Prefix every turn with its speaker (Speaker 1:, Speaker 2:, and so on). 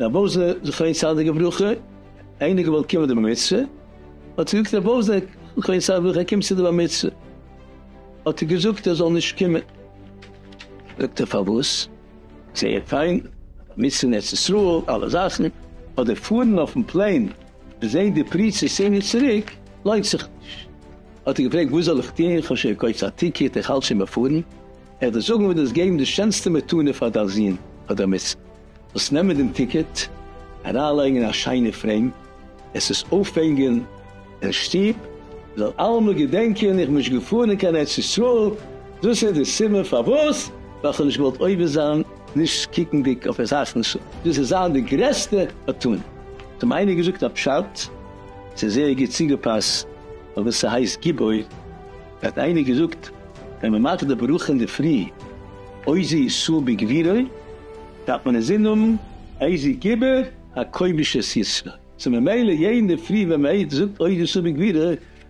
Speaker 1: רב עוזר זכרון סעדיג וברכה, איינער געוואלט קומען די בר מצוה, האט ער געזאגט רב עוזר זכרון סעדיג וברכה קומט צו די בר מצוה, האט ער געזאגט ער זאל נישט קומען, זאגט ער פארוואס, זייער פיין, בר מצוה אין ארץ ישראל, אלע זאכן, אדער פארן אויפן פלעין. זעהט די פריצה סיני צוריק, לוינט זיך נישט. האט ער געפרעגט וואס זאל איך טון, איך האב שוין געקויפט א טיקעט, איך האלט שוין ביי פארן, איך דיר זאגן וועט דאס געבן די שענסטע מתנה פאר דיין זון אדער מצוה, זאלסט נעמען דעם טיקעט, אריינלייגן אין א שיינע פרעים, עס עס אויפהענגען אין שטוב, מען זאל אלעמאל געדענקען איך בין נישט געפארן קיין ארץ ישראל, דאס איז די סיבה פארוואס, ווייל איך האב נישט געוואלט עובר זיין. נישט קוקנדיג אויף אזאך נסים, דאס איז זיין די גרעסטע מתנה, האט אים איינער געזאגט א פשט, ס'איז זייער גוט צוגעפאסט אויף וואס ס'הייסט גיבור, האט איינער געזאגט, ווען מען מאכט די ברכה אינדערפרי עוזי ישראל בגבירו, דארף מען אינזין האבן עוזי גיבור הכובש את ישראל, סאו ממילא יעדן אינדערפרי ווען מען זאגט עוזי ישראל בגבירו,